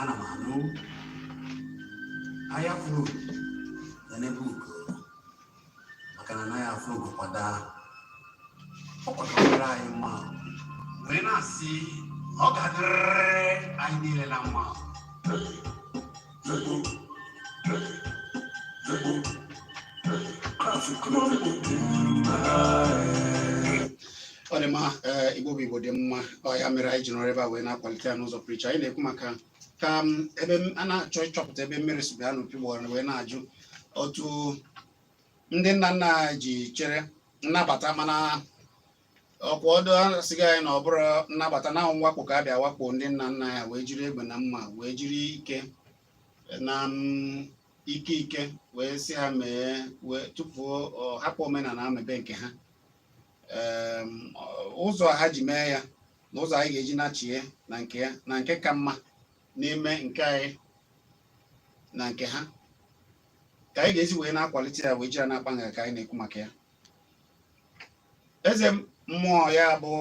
ana m anụ anya fụrụ ya nebe ugo maka na anaghị afụ ugo kwa daa ọ ga-adịrị anyị mma wee na-asị na ọ ga-adịrịrị anyị niile na mma ọ dị mma eh, igbo bụ igbo dị mma ọ ya mere anyị ji nọrọ ebe a wee na-akwalite ya n'ụzọ pụrụ iche anyị na-ekwu maka ka m, ebe m- a na-achọ ịchọpụta ebe mmiri si baa n'opi ụgbọgọrọ wee na-ajụ otu ndị nna nna anyị ji chere nnabata mana ọkwa ọdụ asịgo anyị na ọ bụrọ nnabata na ọ wụ mwakpo ka a bịa wakpo ndị nna nna anyị wee jiri egbe na mma wee jiri ike na mm, ike ike wee si ha mee wee tụfuo hapụ omenala mebe nke ha ụzọ ha ji mee ya na ụzọ anyị ga-eji nachie na nke ya na nke ka mma n'ime nke anyị na nke ha ka anyị ga-esi wee na-akwalite ya wee jiri na-akpa nga ka anyị na-ekwu maka ya eze mmụọ ya bụ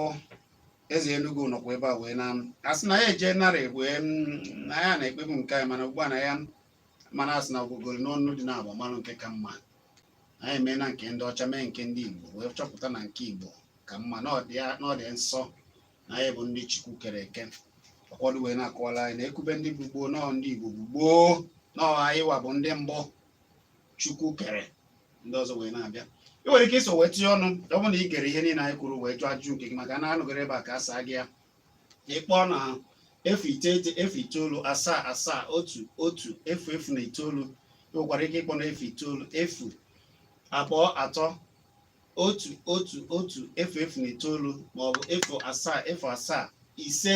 eze Enugu nọkwa ebe a wee na asị na ya eje narị wee na ya na-ekpebu nke anyị mana ugbu a na ya mana asị na ogogoro n'ọnụ dị na agbamalụ nke ka mma anyị mee na nke ndị ọcha mee nke ndị Igbo wee chọpụta na nke Igbo ka mma na ọ dị nsọ na anyị bụ ndị Chukwu kere eke ụfọdụ wee na-akọwala anyị na e kwube ndị bụ gboo nọọ ndị Igbo bụ gboo nọọ anyị wa bụ ndị mbụ chukwu kere ndị ọzọ wee na-abịa ị nwere ike iso wee tinye ọnụ ọ bụrụ na ị gere ihe niile anyị kwuru wee jụọ ajụjụ nke gị maka na a nọgoro ebe a ka a saa gị ya ị kpọọ na efu iteghete efu itoolu asaa asaa otu otu efu efu na itoolu ị nwekwara ike ịkpọ na efu itoolu efu abụọ atọ otu otu otu efu efu na itoolu maọbụ efu asaa efu asaa ise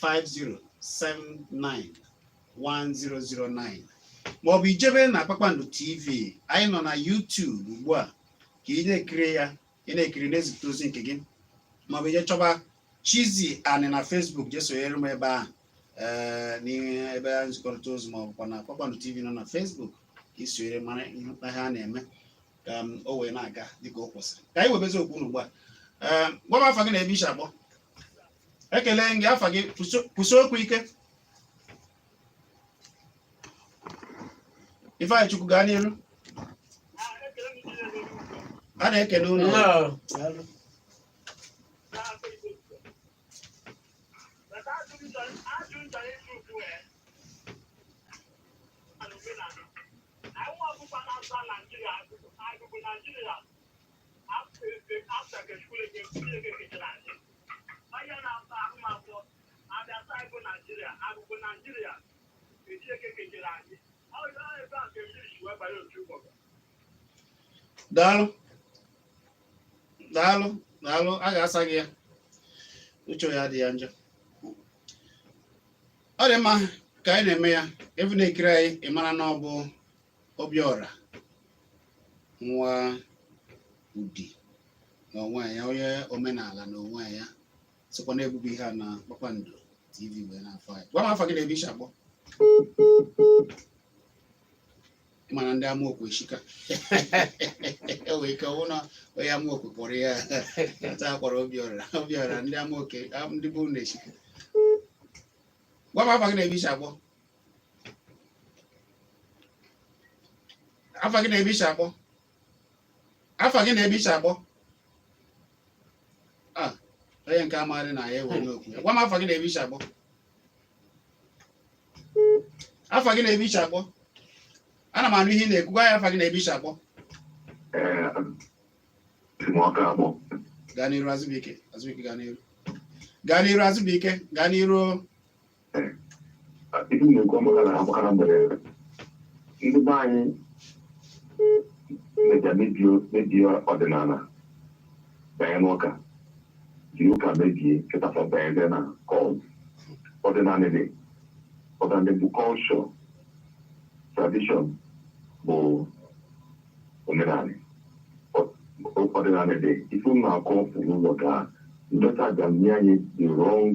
50791009 maọbụ i jebe na Kpakpando TV anyị nọ na YouTube ugbu a ka ị na-ekiri ya ị na-ekiri na-ezipụta ozi nke gị maọbụ i je chọba Chizzy Ani na Facebook je sonyere m ebe ahụ ee n'ihe ebe a nzikọrịta ozi maọbụkwa na Kpakpando TV nọ na Facebook ka i sonyere mara ihe mkpa ha na-eme ka o wee na-aga dịka o kwesịrị ka anyị webezi okwu unu ugbu a ee gwaba afa gị na ebe i si akpọ ekele gị afa gị kwụsị okwu ike Ifeanyị Chukwu gaa n'iru a na-ekele ụlọ Nigeria, after the school, daalụ daalụ daalụ a ga-asa gị ya uche ya adị ya njọ ọ dị mma ka anyị na-eme ya ebe na-ekiri anyị ị mara na ọ bụ Obiọra nwa Udi na onwe ya onye omenala na onwe ya sikwa na-ebubu ihe a na Kpakpando TV wee na-afọ anyị gwa m afa gị na ebe i shi akpọ ị ma na ndị Amokwe eshika e wee ike ọ wụ na onye Amokwe kpọrọ ya taa kpọrọ Obiọra Obiọra ndị Amokwe ndị bụ na eshika gwa m afa gị na ebe i shi akpọ afa gị na ebe i shi akpọ afa gị na ebe i shi akpọ ah, onye nke amaghị na ya ewere okwu gwa m afa gị na ebe i shi akpọ afa gị na ebe i shi akpọ ana m anụ ihe ị na-ekwu gwa ya afa gị na ebe i shi akpọ gaa n'iru Azụbụike Azụbụike gaa n'iru gaa n'iru Azụbụike gaa n'iru ibu na-ekwu maka na agbakara mgbere ndị be anyị na-eja mebie ọdịnala banye n'ụka ji ụka mebie kịta fa banyede na cult ọdịnala dị ọdịnala bụ culture tradition bụ omenala ọdịnala dị ife na-akọ ụzọ ka ndị ọcha ga-enye anyị the wrong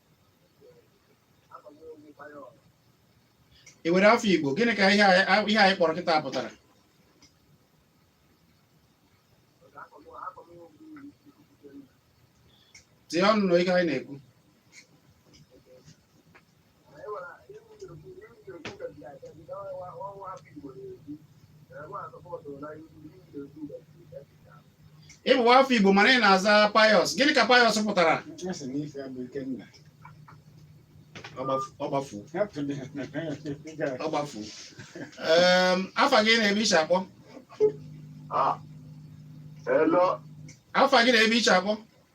ị nwere afa Igbo gịnị ka ihe a- ihe anyị kpọrọ kịta pụtara tinye ọnụ na ihe anyị na-ekwu ị bụ nwa afọ Igbo mana ị na-aza Pius gịnị ka Pius pụtara ọ gbafu ọ gbafu afa gị na ebe i shi akpọ afa gị na ebe i shi akpọ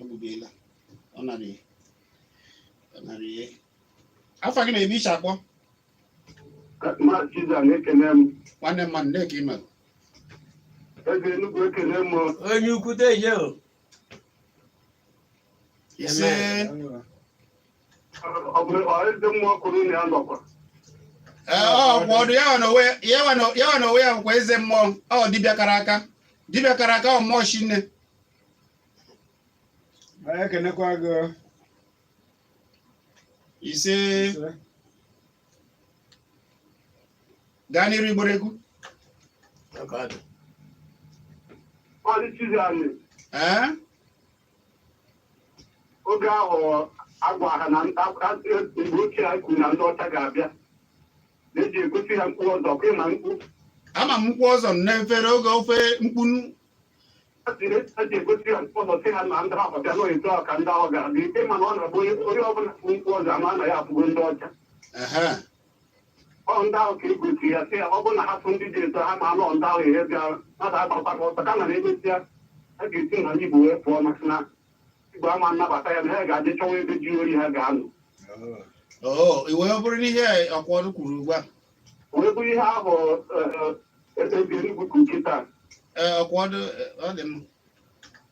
ọgbụbela ọ narị ọ narị ihe afa gị na ebe i si akpọ ma Chiza na-ekene m nwanne mmadụ na-eke ime eze Enugu ekene m onye ukwu deje o ise Ọ bụ ọ eze mmụọ kwuru na ya nọkwa. Ee, Ọkwọdụ ya nwa na onwe ya- ya nwa na- ya nwa na onwe ya bụkwa eze mmụọ ọ dibịa kara aka dibịa kara aka ọ mmụọ shinne Anyị ekenekwa gị ise ise. gaa n'iru Igbo na-ekwu Ọ dị Chizzy Ani. ee oge ahụ agwa ha na mgbe ochie ha kwuru na ndị ọcha ga-abịa na-eji egosi ha mkpu ọzọ ọkwa ị ma mkpu ama m mkpu ọzọ n'efere oge ofe mkpunu ha ji ha ji egosi ha mkpu ọzọ sị ha na ndị ahụ bịa na etu ahụ ka ndị ahụ ga-abịa ike mana ọ na-abụ onye onye ọbụla bụ mkpu ọzọ ama na ya abụgo ndị ọcha ehe ọ ndị ahụ ka egosi ya sị ya ọ bụrụ na ha fụ ndị dị etu a ha ma na ndị ahụ ihe bịa mmadụ agbakwa ka ọsọ kama na emesịa a ga-esi na Igbo wee pụọ maka na Igbo ama anabata ya na ha ga-eje chọwa ebe ji oyi ha ga-anọ oo iwe ọ bụrụ n'ihe Ọkwọdụ kwuru ugbu a wee bụrụ ihe ahụ ekpebiri Enugu capital ee Ọkwọdụ ọ dị mma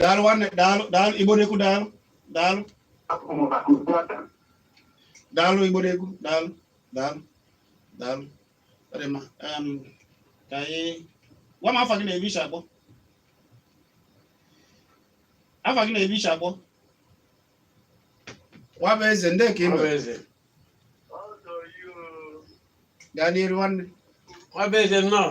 daalụ nwanne daalụ daalụ igbo na-ekwu daalụ daalụ daalụ igbo na-ekwu daalụ daalụ daalụ ka anyị gwa m afa gị na ebe i si akpọ afa gị na ebe i si akpọ Nwabueze ndị ka i mere gaa n'iru nwanne Nwabueze nnọọ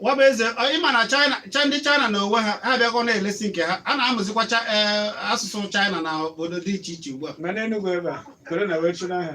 Nwabueze ị ma na china ndị china na onwe ha ha abịago na-elesi nke ha a na-amụzikwa e, asụsụ china na obodo dị iche iche ugbu a ma n'Enugwu ebe a kwere na e nwere chụrụ ha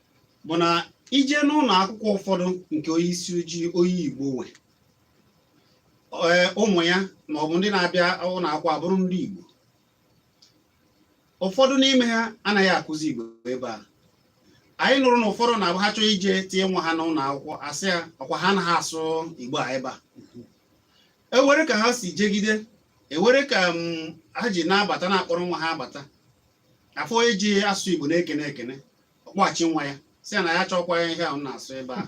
bụ na i je n'ụlọ akwụkwọ ụfọdụ nke onye isi ojii onye Igbo nwe ụmụ ya ma ọ bụ ndị na-abịa ụlọ akwụkwọ abụrụ ndị Igbo ụfọdụ n'ime ha anaghị akụzi Igbo ebe a anyị nụrụ na ụfọdụ na-abụ ha chọọ ije tinye nwa ha n'ụlọ akwụkwọ asị ya ọkwa ha anaghị asụ Igbo a ebe a ewere ka ha si jegide ewere ka mm, ha ji na-abata na-akpọrọ nwa ha abata afụ onye ji asụsụ igbo na-ekene ekene ọ kpọghachi nwa ya sị na ya achọkwa ihe ahụ na-asụ ebe a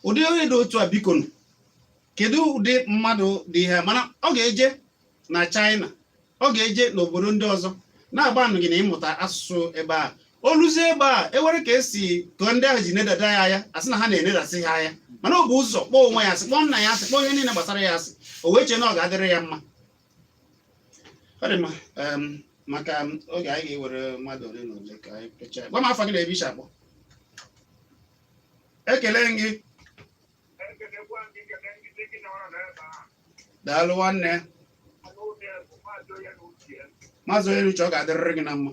ụdị onye dị otu a biko nụ, kedu ụdị mmadụ dị ihe a? mana ọ ga-eje na China ọ ga-eje n'obodo ndị ọzọ na-agbanụ gịnị ịmụta asụsụ ebe a o luzie ebe a e were ka esi ka ndị ahụ ji nedada ya anya a sị na ha na-enedasị ha anya mana o bu ụzọ kpọọ onwe ya asị kpọọ nna ya asị kpọọ ihe niile gbasara ya asị o wee chee na ọ ga-adịrị ya mma maka oge anyị ga-ewere mmadụ ole na ole ka anyị mechaa gwa m afa gị na ebe i si akpọ ekele m gị daalụ nwanne maazị onye na uche ọ ga-adịrịrị gị na mma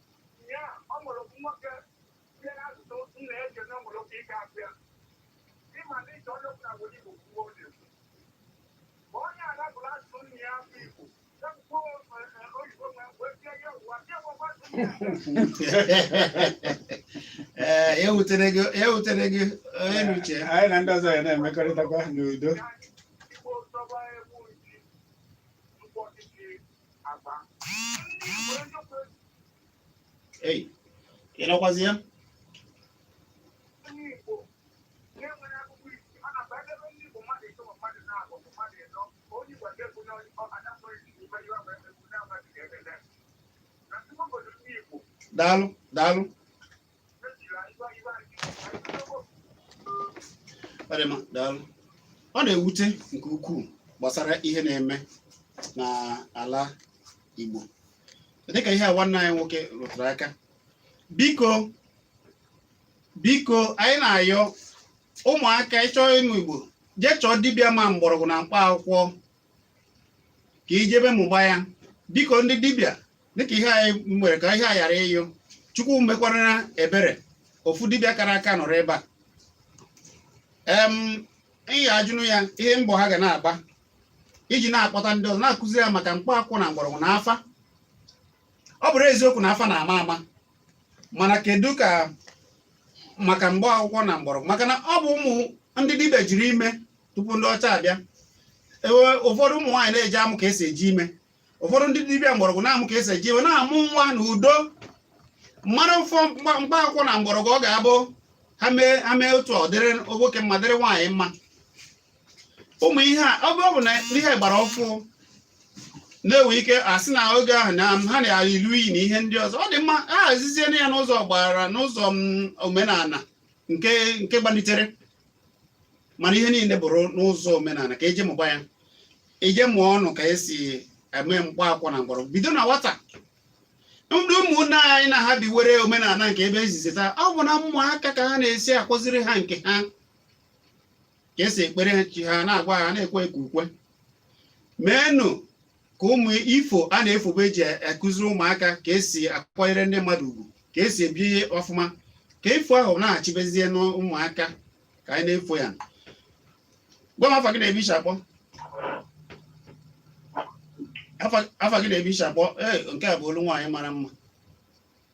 ee ewutere gị ewutere gị onye na uche anyị na ndị ọzọ ya na-emekọrịtakwa n'udo Ei, ị nọkwazi ya? Daalụ, daalụ. ọ na-ewute nke ukwuu gbasara ihe na-eme n'ala Igbo dịka ihe a nwanne anyị nwoke rụtụrụ aka biko biko anyị na-ayọ ụmụaka ị chọọ ịmụ Igbo jee chọọ dibịa ma mgbọrọgwụ na mkpa akwụkwọ ka i jebe mụba ya biko ndị dibịa dịka ihe anyị nwere ka ihe a ghara ịnyụ chukwu mekwara ebere ofu dibịa kara aka nọrọ ebe a em ihe a jụnụ ya ihe mbọ ha ga na-agba iji na-akpọta ndị ọzọ na-akụziri ya maka mkpa akwụ na mgbọrọgwụ na afa ọ bụrụ eziokwu na afa na-ama ama mana kedu ka maka mkpa akwụkwọ na mgbọrọgwụ maka na ọ bụ ụmụ ndị dibịa jiri ime tupu ndị ọcha abịa ụfọdụ ụmụ nwaanyị na-eje amụ ka esi eji ime ụfọdụ ndị dibịa mgbọrọgwụ na-amụ ka esi eji ime na-amụ nwa na udo mmadụ ụfọ mkpa akwụkwọ na mgbọrọgwụ ọ ga-abụ ha mee otu ọ dịrị nwoke mma dịrị nwaanyị mma ụmụ ihe a ọ bụ na ihe gbara ọfụụ na-enwe ike asị na oge ahụ na ha na-alụ iyi na ihe ndị ọzọ ọ dị mma ha hazizie ya n'ụzọ gbara n'ụzọ omenala nke gbalitere mana ihe niile bụrụ n'ụzọ omenala ka eje mụba ya eje mụọnụ ka esi eme mkpa akwụkwọ na mgbọrọgwụ bido na nwata ndị ụmụnne anyị na ha biwere omenala nke ebe ezizi taa ọ bụ na ụmụaka ka ha na-esi akụziri ha nke ha ka esi ekpere chi ha na-agwa ha na-ekwe ekwe ukwe meenụ ka ụmụ ifo a na-efobe eji akụziri ụmụaka ka esi akwanyere ndị mmadụ ugwu ka esi ebi ọfụma ka ifo ahụ na-achịbezie n'ụmụaka ka anyị na-efo ya gwa m afa gị na-ebi iche akpọ afa gị na-ebi iche akpọ ee nke a bụ olu nwaanyị mara mma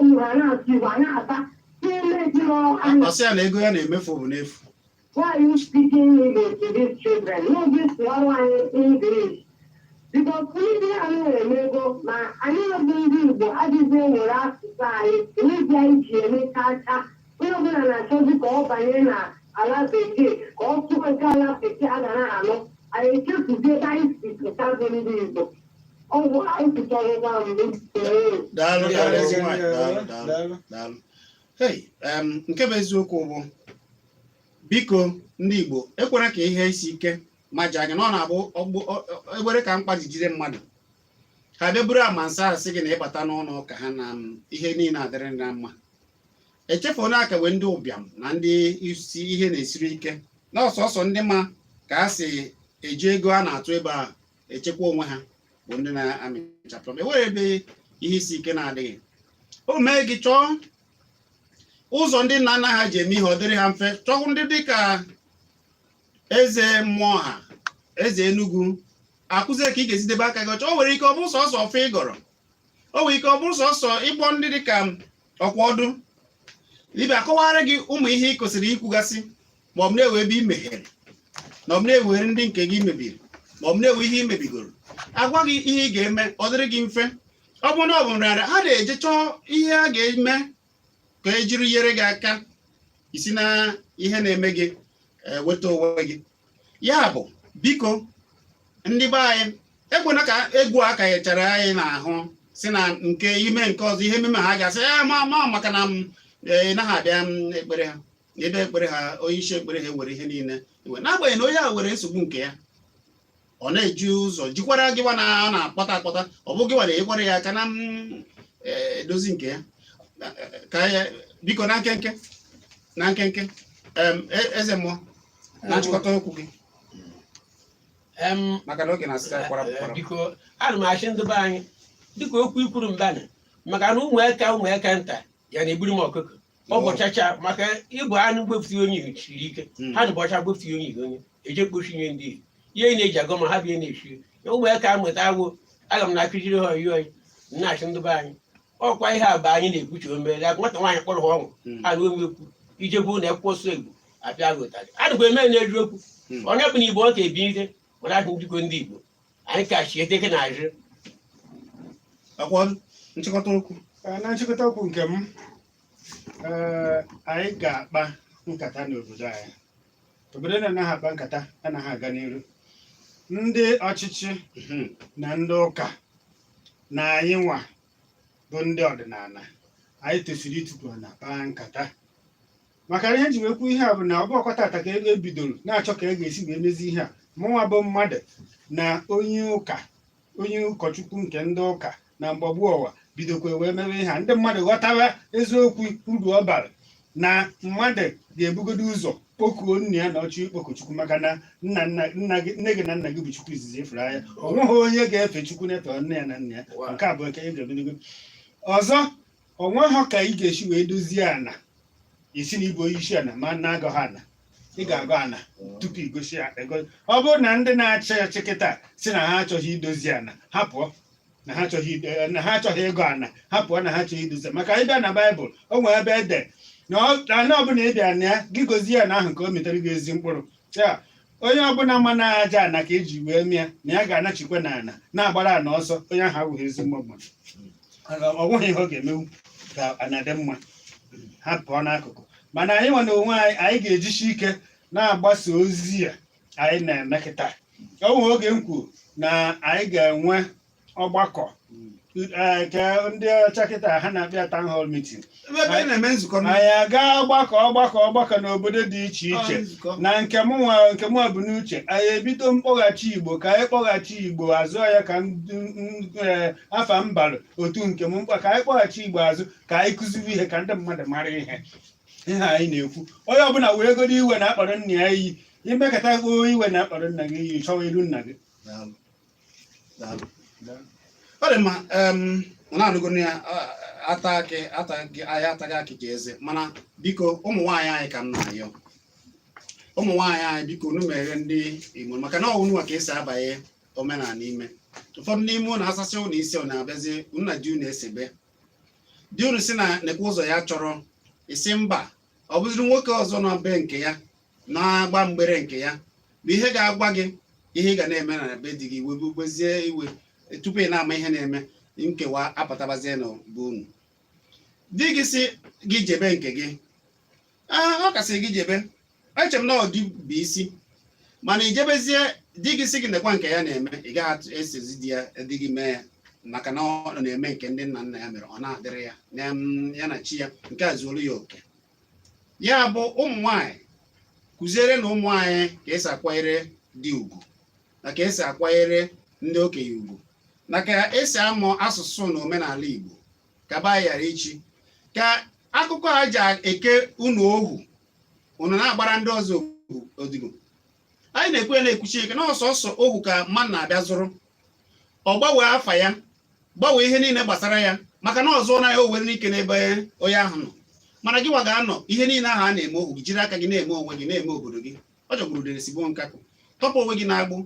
ụmụ ha na-asụ Igbo a na-abata n'ime ezinụlọ ha na ọ sị ya na ego ya na-emefu bụ n'efu Why are you speaking English to these children? No, this one one English. Because ndị a na-eme ego ma anyị bụ ndị Igbo adịghị enwere asụsụ anyị enweghị anyị ji eme kacha onye ọbụla na-achọzi ka ọ banye na ala bekee ka ọ sụọ nke ala bekee a ga na-anụ anyị echefuzie ebe anyị si pụta bụ ndị Igbo daalụ daalụ ezi nwaanyị daalụ daalụ daalụ hey em, nke bụ eziokwu bụ biko ndị igbo ekwere ka ihe isi ike ma ji anya na ọ na-abụ ọgbụ- ọ- ọ- ekwere ka mkpa jijide mmadụ ha bịa buru amansị asị gị na ị bata n'ụlọ ụka ha na m, ihe niile adịrị na mma echefu na a ka nwee ndị ụbịam na ndị ihe na-esiri ike na ọ sọsọ ndị ma ka a si eji ego a na-atụ ebe a echekwa onwe ha bụ ndị na-amịchapụ enwere ebe ihe isi ike na-adịghị o mee gị chọọ ụzọ ndị nna nna ha ji eme ihe ọ dịrị ha mfe chọọ ndị dị ka eze mmụọ ha eze Enugu akụzie ka ị ga-esi debe aka gị ọcha o nwere ike ọ bụrụ sọsọ ọfọ ị gọrọ o nwere ike ọ bụrụ sọsọ ịkpọ ndị dị ka ọkwa ọdụ dibịa akọwara gị ụmụ ihe ị kwesịrị ikwugasị ma ọ bụ na enwe ebe i mehiere ma ọ bụ na enwere ndị nke gị mebiri ma ọ bụ na enwe ihe i mebigoro agwa gị ihe ị ga-eme ọ dịrị gị mfe ọ bụrụ na ọ bụ nrịanrịa ha na-eje chọọ ihe a ga-eme ka e jiri nyere gị aka i si na ihe na-eme gị eh, weta onwe gị ya bụ biko ndị be anyị ekwena ka egwu a kanyechara anyị n'ahụ si na nke ime nke ọzọ ihe ememe ha ga-asị ya ma ma maka na m anaghị abịa ekpere ha ebe ekpere ha onye isi ekpere ha were ihe niile iwe n'agbanyeghị na onye a nwere nsogbu nke ya ọ na-eji ụzọ jikwara gịwa na ọ na-akpata akpata ọ bụ gịwa na-enyekwara ya aka na mm, e, edozi nke ya ka ya biko na nkenke na nkenke em, e- eze mmụọ na nchịkọta okwu gị Em, maka na oge na-asịta kwara Eh, kwara biko ana m asị ndị be anyị dịka okwu i kwuru mbanị maka na ụmụaka ụmụaka nta ya na-egburu m ọkụkọ ọ bọchacha maka ịbọ anụ gbepụta onye iri siri ike ha na-abọcha gbepụta onye iri onye eje kpochi nye ndị iri ihe ị na-eji agọ ma ha bịa na-echi ụmụaka amụta agwụ aga m na-akụziri ha oyi oyi na-asị ndị be anyị ọkwa ihe a bụ anyị na-ekwuchi omere agụ nwata nwaanyị kpọrọ ha ọnwụ a na omekwu ije bụ na akwụkwọ so egwu abịa gụtarị adịkwa eme na-eji okwu onye bụ na igbo ọ ka ebi ihe mana ahụ njikọ ndị igbo anyị ka chie dịka na azụ akwa nchịkọta okwu Ee, na nchịkọta okwu nke m ee, anyị ga-akpa nkata n'obodo anyị obodo na-anaghị akpa nkata anaghị aga n'iru ndị ọchịchị Mhm. na ndị ụka na anyị nwa bụ ndị ọdịnala anyị tosiri ịtukwu ana kpaa nkata maka na ihe ji wee kwuo ihe a bụ na ọ bụhọkwa tata ka e bidoro na-achọ ka e ga-esi wee mezi ihe a mụnwa bụ mmadụ na onye ụka onye ụkọchukwu nke ndị ụka na mgbagbu ọwa bidokwa wee mewe ihe a ndị mmadụ ghọtara eziokwu uru ọ bara na mmadụ ga-ebugodo ụzọ kpokuo nna ya na ọ chọ ikpoku chukwu maka na nna nna nna gị nne gị na nna gị bụ chukwu izizi ị fụrụ anya o nweghị onye ga-efe chukwu na-efe nne ya na nna ya nke a bụ nke ị ga-ebugodo ụzọ o nweghị ka ị ga-esi wee dozie ana ị sị na ị bụ onye isi ana ma na-agọha ana ị ga-agọ ana tupu igosi ya ego- ọ bụrụ na ndị na-achị achị kịta sị na ha achọghị idozi ana ha pụọ na ha achọghị ido- eh, na ha achọghị ịgọ ana ha pụọ na ha achọghị idozi maka ị bịa na baịbụl o nwere ebe e de na ọ- ana ọbụla ị bịara na ya gị gozie ana ahụ ka ọ mịtara gị ezi mkpụrụ ya onye ọbụla ma na aja ana ka e ji wee mee ya na ya ga-anachikwa na ana na-agbara ana ọsọ onye ahụ abụghị ezi mma mmadụ o nweghị ihe ọ ga-emewu ka ana dị mma ha pụọ n'akụkụ mana anyị nwa na onwe anyị anyị ga-ejisi ike na-agbasa ozi a anyị na-eme kịta o nwere oge m kwuru na anyị ga-enwe ọgbakọ ee, nke ndị ọcha kịta ha na-akpọ ya town hall meeting ebe ebe ị na-eme nzukọ na anyị aga ọgbakọ ọgbakọ ọgbakọ n'obodo dị iche iche nzukọ na nke mụ nwa nke mụ bu n'uche anyị ebido mkpọghachi igbo ka anyị kpọghachi igbo azụ ya ka ndị ndị, eh, afa m balụ otu nke m mkpa ka anyị kpọghachi igbo azụ ka anyị kụziwe ihe ka ndị mmadụ mara ihe ihe anyị na-ekwu onye ọbụla wegodo iwe na a kpọrọ nna ya iyi imekọta gbuo iwe na a kpọrọ nna gị iyi chọwa iru nna gị Daalụ. ọ dị mma unu anụgo na ya ata akị ataghị anyị ataghị akị ka eze mana biko ụmụ nwaanyị anyị ka m na-ayọ ụmụ nwaanyị anyị biko unu meghere ndị Igbo maka na unu nwa ka esi abanye omenala ime ụfọdụ n'ime unu asasị unu isi ọ na-abịazi unu na di unu esebe di unu si na nekwa ụzọ ya chọrọ ị sị mba ọ bụziri nwoke ọzọ nọ be nke ya na-agba mgbere nke ya na ihe ga-agwa gị ihe ị ga na-eme na be di gị webezie iwe tupu ị na-ama ihe na-eme nkewa apụtabazie na be unu di gị si gị jebe nke gị ee ọ kasị gị jebe eche m na ọ di bụ isi mana i jebezie di gị si gị nekwa nke ya na-eme ị gaghị atụ- esozi di ya di gị mee ya maka na ọ na-eme nke ndị nna nna ya mere ọ na-adịrị ya na mma, ya na chi ya nke a zuoro ya oke ya bụ ụmụ nwanyị kụzierenụ ụmụ anyị ka esi akwanyere di ugwu na ka esi akwanyere ndị okenye ugwu na ka esi amụ asụsụ na omenala Igbo ka ba ghara ichi ka akụkọ a ji eke unu ohu unu na-agbara ndị ọzọ odibo anyị na-ekwu na-ekwusi ike na ọ sọsọ ohu ka mmadụ na-abịa zụrụ ọ gbanwee afa ya gbanwee ihe niile gbasara ya maka na ọ zụọna ya o nwere ike n'ebe onye ahụ nọ mana gị nwa ga-anọ ihe niile ahụ a na-eme ohu gị jiri aka gị na-eme onwe gị na-eme obodo gị ọ jọgburu udele sigbuo nkakwụ tọpụ onwe gị n'agbụ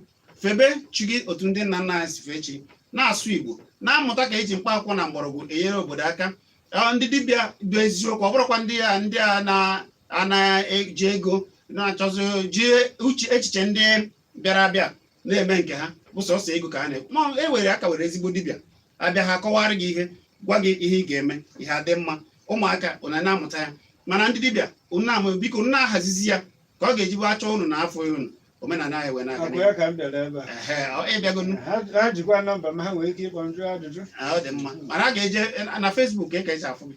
febe chi gị otu ndị nna nna anyị si fee chi na-asụ igbo na-amụta ka eji mkpa akwụkwọ na mgbọrọgwụ enyere obodo aka ndị dibịa bụ eziokwu ọ bụrọkwa ndị a ndị a na-eji ego na-achọzi ji uche echiche ndị bịara abịa na-eme nke ha bụ sọsọ ego ka ha na-ekwu ma e nwere a ka nwere ezigbo dibịa a bịa ha kọwara gị ihe gwa gị ihe ị ga-eme ihe adị mma ụmụaka ụnụ na-amụta ya mana ndị dibịa ụnụ ama biko ụnụ na-ahazizi ya ka ọ ga-eji bụ a chọọ ụnụ a na-afụ ụnụ omenala anyị wee na-aga ọ kwa ya ka m bịara ebe a. Ehe, ọ- ịbịago nụ. Ha ha jikwa nọmba m ha nwere ike ịkpọ m jụọ ajụjụ. Ah, ọ dị mma mana a ga-eje na Facebook ka e ka esi afụ gị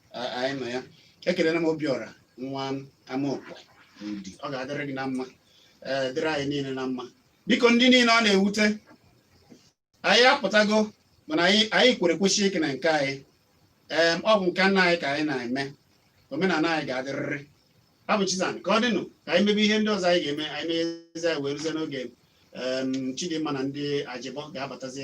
anyị nọ ya ekelena m obiọra nwa amaokwe n'udi ọ ga-adịrị gị na mma ee dịrị anyị niile na mma biko ndị niile ọ na-ewute anyị apụtago mana anyị kwere kwesie ike na nke anyị ee ọ bụ nke nna anyị ka anyị na-eme omenala anyị ga-adịrịrị abụ chizan ka ọ dịnụ ka anyị mebe ihe ndị ọzọ anyị ga-eme anyị mezie wee ruzie n'oge chidimma na ndị ajịbọ ga-abatazi